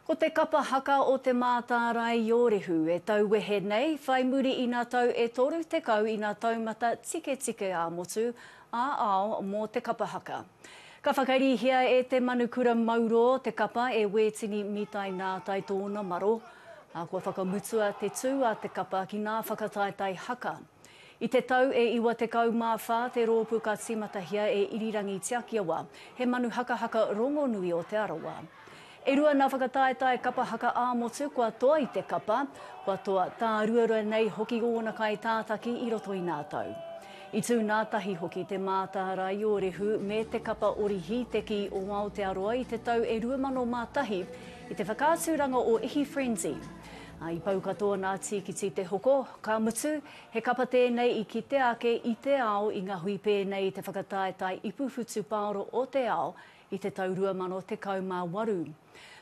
Ko te kapa haka o Te Mātārae-i-ōrehu e tauwehe nei, whai muri ina tau e 30 ina taumata tiketike ā-motu, ā-ao mō te kapa haka. Ka whakarīhia e Te Manukura Mauro te kapa e Wētini Mitai Nātai tōna maro, ā, kua whakamutua te tū a te kapa ki ngā whakataetae haka. I te tau e 94 te roopu ka timatahia e Irirangi Tiakiawa, he manu hakahaka rongonui o Te Arawa. E rua na whakataetae kapa haka ā-motu kua toa i te kapa, kua toa tāruarua nei hoki ōna kaitātaki i roto i nā tau. I tū nā tahi hoki te Mātā Raiorehu me te kapa ori hīteki o Aotearoa i te tau e 2001 i te whakaaturanga o Ihi Frenzy, I pau katoa nā Tīkiti te hoko, ka mutu, he kapa tēnei i kitea ake i te ao i ngā hui pēnei i te whakataetae ipu whutupaoro o te ao i te tau 2018.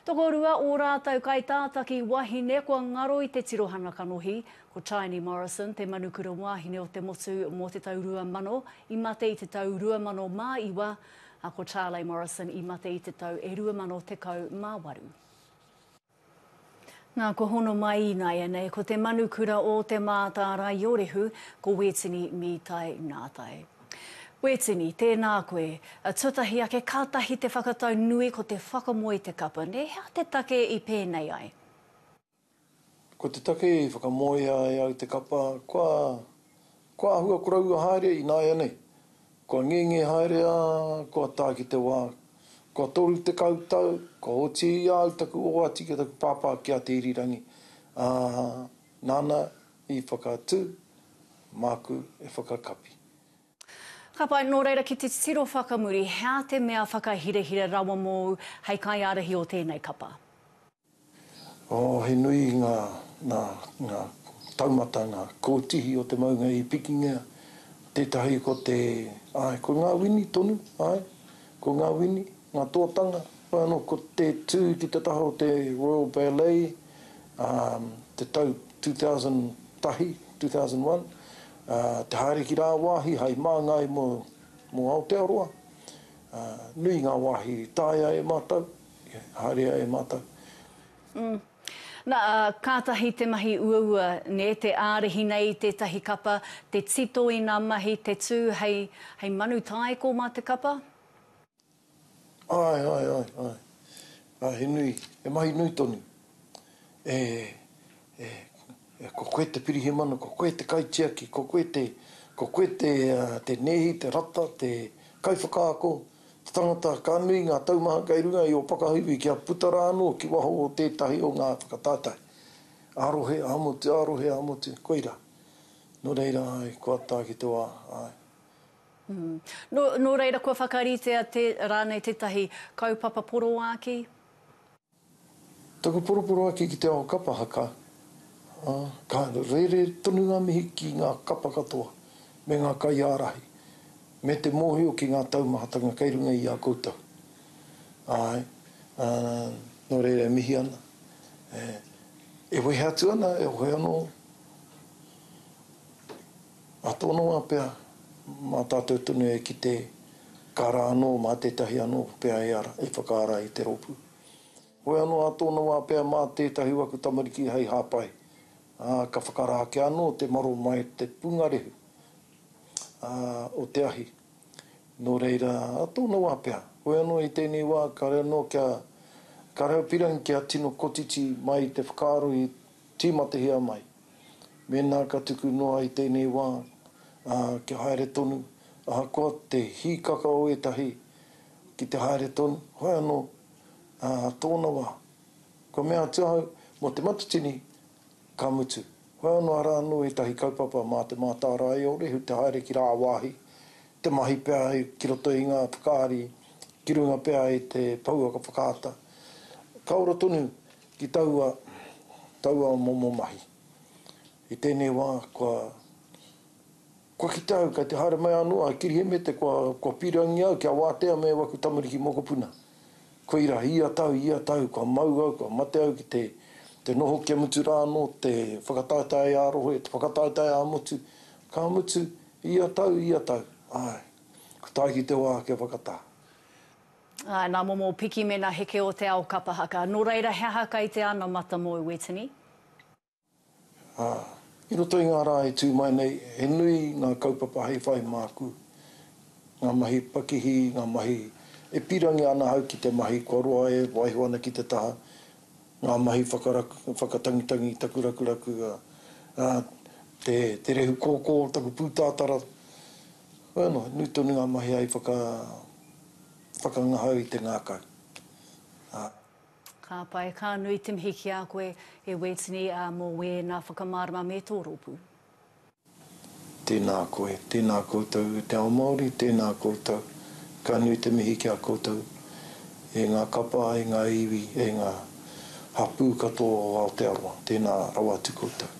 Tokorua ō rātou kaitātaki wahine kua ngaro i te tirohanga kanohi, ko Tiny Morrison te manukura wāhine o te motu mō te tau 2000, i mate i te tau 2009, a ko Charley Morrison i mate i te tau e 2018. Nā, kua hono mai ināianei ko te manu kura ō Te Mātāraiōrehu, ko Wētini Mītai Nātai. Wētini, tēnā koe. Tuatahi ake, kātahi te whakatau nui ko te whakamoe te kapa, nē, hea te take i pēnei ai? Ko te take i whakamoea e au te kapa, kua Kua āhua koroua haere ināianei, kua ngenge haere ā, kua tae ki te wā, kua toru tekau tau, kua oti ia au taku oati ki taku pāpā ki a Te Irirangi, ā, nāna i whakatū māku e whakakapi. Ka pai, nō reira ki te titiro whakamuri, he aha te mea whakahirahira rawa mōu hei kaiārahi o tēnei kapa? Oh, he nui ngā, ngā, ngā taumata, ngā kōtihi o te maunga i pikingia, tētahi ko te, āe, ko ngā wini tonu, āe, ko ngā wini, ngā tōtanga, whai anō ko te tū ki te taha o te Royal Ballet, ā, te tau 2001, 2001, ā, te haere ki rāwāhi hai māngai mō, mō Aotearoa, ā, nui ngā wāhi i taea e mātou. Ia, haere ai e mātou. Mm. Na, kātahi te mahi uaua, nē, te ārahi nei i tētahi kapa, te tito i nā mahi, te tū hei, hei manu tāiko mā te kapa? Āe, āe, āe, āe. Āe, he nui, he mahi nui tonu. E, ko koe te Pirihimana, ko koe te Kaitiaki, ko koe te, ko koe te, te nēhi, te rata, te kaiwhakaako, te tangata ka nui ngā taumaha kei runga i ō whakahauwī kia puta rā anō ki waho o tētahi o ngā whakatātai. Ā-rohe, ā-motu, ā-rohe, ā-motu, koirā. Nō reira, āe, kua tā ki te wā, āe. Nō reira kua whakaritea rānei tētahi kaupapa poroāki? Taku poroporo ake ki te ao kapa haka, ā, ka rere tonu ngā mihi ki ngā kapa katoa, me ngā kaiārahi, me te mōhio ki ngā taumahatanga kei runga i a koutou. Āe, ā, nō reira e mihi ana, e, e wehe atu ana, e hoe anō. Ka tonoa pea, mā tātou tonu e kite, ka rā anō mā tētahi anō pea e ara, e whakaara i te rōpū. Hoi anō a tōna wā pea mā tētahi o aku tamariki hei hāpai, ā, ka whakarā ake anō te maro mai te pungarehu, ā, o te ahi. Nō reira, a tōna wā pea, hoi anō i tēnei wā kāore anō kia, kāore au pirang kia tino kotiti mai te whakaaro i tīmatahia mai. Mēnā ka tuku noa i tēnei wā, ā, kia haere tonu, ahakoa te hīkaka o ētahi ki te haere tonu, whai anō, ā, tōna wā, kua mea atu ahau, mō te matatini, ka mutu. Whai anō arā anō ētahi kaupapa mā te mātārae o Rehu te haere ki rāwāhi, te mahi pea ki roto i ngā whakaari, ki runga pea i te pouaka whakaata. Ka ora tonu Ki taua, taua momo mahi. I tēnei wā, kua, kua kitea au, kei te haere mai anō a Kirihemete kua, kua pīrangi au kia wātea me waku tamariki mokopuna. Koira, ia tau, ia tau, kua mau au, kua mate au ki te, te noho kia mutu rā anō te whakataetae ā-rohe, te whakataetae ā-motu, ka mutu, ia tau, ia tau, āe, ka tae ki te wā kia whakatā. Ā, nā momo piki mēnā heke o te ao kapa haka. Nō reira, he aha kai te ana matamou, Wetini? Ā, i roto i ngā rā e tū mai nei, he nui ngā kaupapa hei whai māku, ngā mahi pakihi, ngā mahi e pīrangi ana ahau ki te mahi kua roa e waiho ana ki te taha, ngā mahi whakaraku, whakatangitangi taku rakuraku, ā, te rehu kōkō o taku pūtātara, Hoi anō, nui tonu ngā mahi hei whakangahau i te ngākau, ā. Ka pai, ka nui te mihi ki a koe, e Wētini, ā, mō wēnā whakamārama me tō rōpū. Tēnā koe, tēnā koutou e te ao Māori, tēnā koutou. Ka nui te mihi ki a koutou, e ngā kapa, e ngā iwi, e ngā hapū katoa o Aotearoa. Tēnā rawa atu koutou.